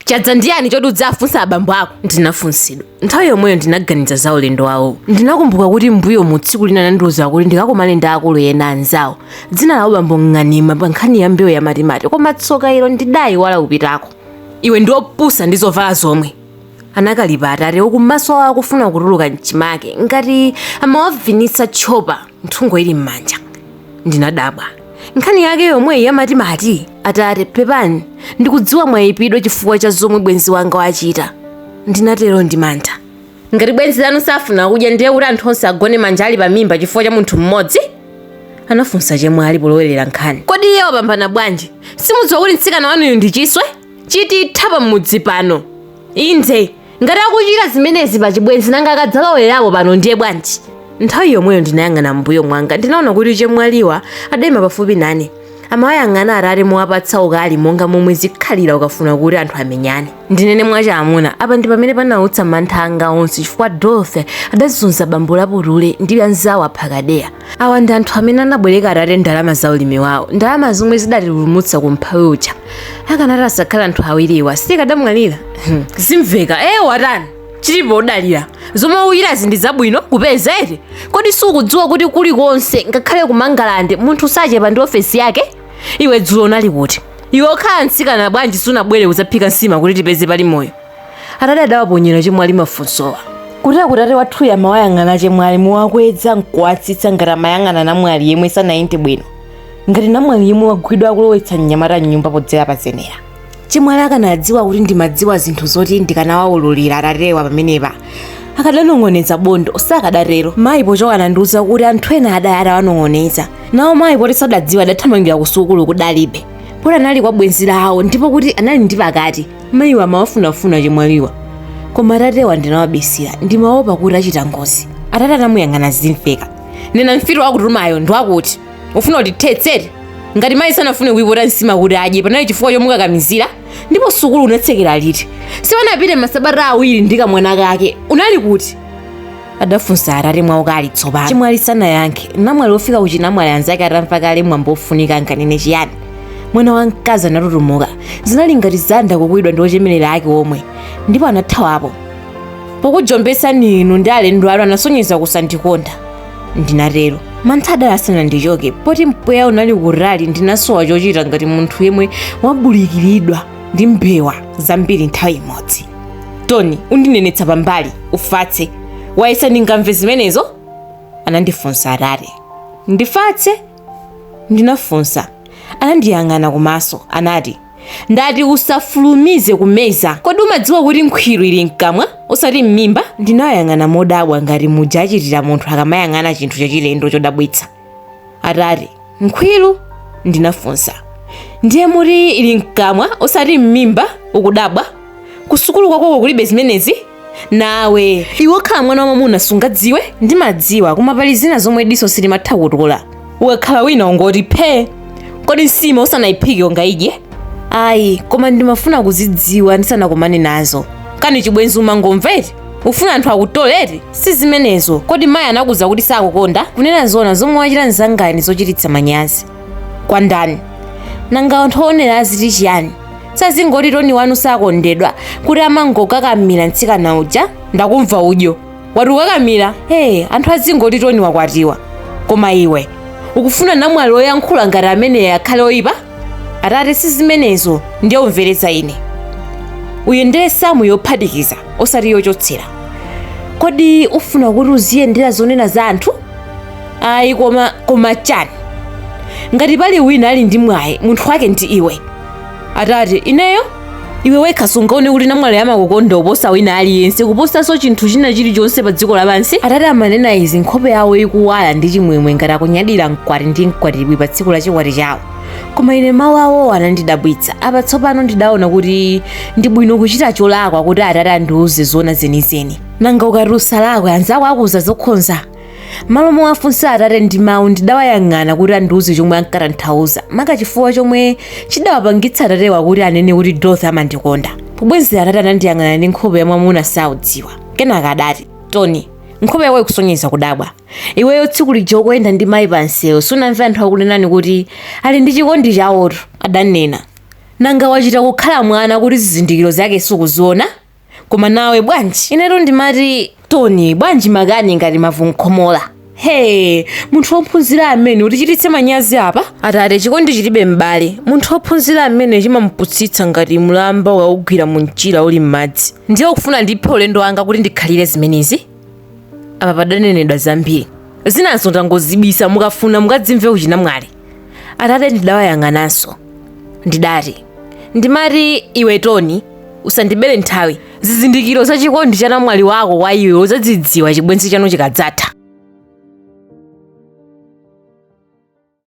chadza ndiyani choti udzifunsa abambo ako ndinafunsidwa nthawi yomweyo ndinaganiza za ulendo wawo ndinakumbuka kuti mbuyomu tsiku lina anandiuza kuti ndikakumane ndi akulu ena anzawo dzina lawo bambo ng'anima pa nkhani ya mbewu ya matimati koma tsoka ilo ndidayiwala kupitako iwe ndiwopusa ndi zovala zomwe anakalipa atate uku maso awo akufuna kutuluka mchimake ngati amawavinitsa tchopa nthungo ili m'manja ndinadabwa nkhani yake yomweyi ya matimati atate pepani ndikudziwa mwayipidwa chifukwa cha zomwe bwenzi wanga wachita ndinatero ndi mantha ngati bwenzi lanu safuna kudya ndiye kuti anthu onse agone manja ali pa mimba chifukwa cha munthu mmodzi anafunsa chemwali polowerera nkhani kodi iye wapambana bwanji simudziwa kuti mtsikana wanuyu ndi chiswe chititha pa mudzi pano inde ngati akuchita zimenezi pa chibwenzi nanga akadzalowera pano ndiye bwanji nthawi yomweyo ndinayang'ana m'mbuyo mwanga ndinaona kuti chemwaliwa adaima pafupi nane amawayang'ana atate mowapatsa ukali monga momwe zikhalira ukafuna kuti anthu amenyane ndinene mwachamuna apa ndi pamene panautsa mantha anga onse chifukwa dolfe adazunza bambo laputule ndi anzawo a phakadeya awa ndi anthu amene anabwereka atate ndalama za ulimi wawo ndalama zomwe zidatipulumutsa ku umphawi uja akanati asakhale anthu awiriwa tikadamwalira Hmm. zimveka ee watani chilipo udalira zomwe udyerazi ndi zabwino kupeza eti kodi sukudziwa kuti kulikonse ngakhale ku mangalande munthu sachepa ndi ofesi yake iwe dzulo unali kuti iwe okhala mtsikana bwanji sunabwere kudzaphika nsima kuti tipeze pali moyo atate adawaponyera chemwali mafunsowa kuteroku tate wathuyo amawayang'ana achemwali mowakweza nkuwatsitsa ngati amayang'ana namwali yemwe sanayende bwino ngati namwali yemwe wagwidwa akulowetsa mnyamata mnyumba podzera pazenera chemwali akanadziwa kuti ndimadziwa zinthu zoti ndikanawawululira atatewa pamenepa akadanong'oneza bondo sakadatero mayi pochoka anandiuza kuti anthu ena adali atawanong'oneza nawo mayi poti sadadziwa adathamangira kusukulu kudalibe poti anali kwa bwenzi lawo ndipo kuti anali ndi pakati mayiwa amawafunafuna chemwaliwa koma atatewa ndinawabisira ndimaopa kuti achita ngozi atate anamuyang'ana zimveka nena mfiti wakutumayo ndi wakuti ufuna kutithetsera ngati mayi sanafune kuipota nsima kuti adye panali chifukwa chomukakamizira ndipo sukulu unatsekera liti siwanapite masabata awiri ndi kamwana kake unali kuti adafunsa atate mwa ukali tsopano chemwali sanayankhe namwali wofika ku chinamwali anzake atamva kale mwambo wofunika akanene chiyani mwana wa mkazi anatutumuka zinali ngati zanda kukuwidwa ndi ochemerera ake omwe ndipo anathawapo pokujombesani inu ndi alendo anu anasonyeza kusandikonda ndinatero mantha adali asanandichoke poti mpweya unali kutali ndinasowa chochita ngati munthu yemwe wabulikiridwa ndi mbewa zambiri nthawi imodzi tony undinenetsa pambali ufatse wayesa ndingamve zimenezo anandifunsa atate ndifatse ndinafunsa anandiyang'ana kumaso anati ndati usafulumize kumeza kodi umadziwa kuti nkhwiru ili mkamwa osati m'mimba ndinayang'ana modabwa ngati muja achitira munthu akamayang'ana chinthu chachilendo chodabwitsa atate nkhwiru ndinafunsa ndiye muti ili mkamwa osati m'mimba ukudabwa kusukulu kwakoko kulibe zimenezi nawe iwe okhala mwana wamamuna sungadziwe ndimadziwa koma pali zina zomwe diso silimatha kutola ukakhala wina ungoti phee kodi nsima usanayiphike ungaidye ayi koma ndimafuna kuzidziwa ndisanakumane nazo kani chibwenzi umangomveti ufuna anthu akutole eti si zimenezo kodi mayi anakuuza kuti sakukonda kunena zoona zomwe wachita mzangani zochititsa manyazi kwa ndani nanga anthu oonera aziti chiyani azingoti toni wanu sakondedwa koma amangokakamira mtsikana uja ndakumva udyo wati ukakamira ee anthu azingoti toni wakwatiwa koma iwe ukufuna namwali oyankhula ngati ameneyo akhale oyipa atate si zimenezo ndiye umvere za ine uyu ndiye samu yophatikiza osati yochotsera kodi ufuna kuti uziyendera zonena za anthu ayi koma koma chani ngati pali wina ali ndi mwayi munthu wake ndi iwe atate ineyo iwe wekha sungaone kuti namwaliyo amakukonda kuposa wina aliyense kuposanso chinthu china chilichonse pa dziko lapansi atate amanena izi nkhope yawo ikuwala ndi chimwemwe ngati akunyadira mkwati ndi mkwatibwi pa tsiku la chikwati chawo koma ine mawu awowo anandidabwitsa apa tsopano ndidaona kuti ndi bwino kuchita cholakwa kuti atate andiuze zoona zenizeni nanga ukati usalakwe anzako akuuza zokhonza mmalo mowafunsa atate ndi mawu ndidawayang'ana kuti andiuze chomwe ankatanthauza maka chifukwa chomwe chidawapangitsa atatewa kuti anene kuti dorothy amandikonda pobwezera atate anandiyang'ana ndi nkhope ya mwamuna saudzidwa kenaka adati tony nkhope yako ikusonyeza kudabwa iweyo tsiku lija ukuyenda ndi mayi pansewu sunamve anthu akunenani kuti ali ndi chikondi chawotu adanena nanga wachita kukhala mwana kuti zizindikiro zake sukuziona koma nawe bwanji inetu ndimati toni bwanji makani ngati mavunkhomola he munthu wophunzira amene utichititse manyazi apa atate chikondi chilibe m'bale munthu wophunzira amene chimamuputsitsa ngati mlamba ukaugwira mu mchira uli m'madzi ndiye ukufuna ndiphe ulendo wanga kuti ndikhalire zimenezi apa padanenedwa zambiri zinazo ndangozibisa mukafuna mukadzimve kuchinamwali atate ndidawayang'ananso ndidati ndimati iwe toni usandibere nthawi zizindikiro za chikondi cha namwali wako kwa iwe uzadzidziwa chibwenzi chanu chikadzatha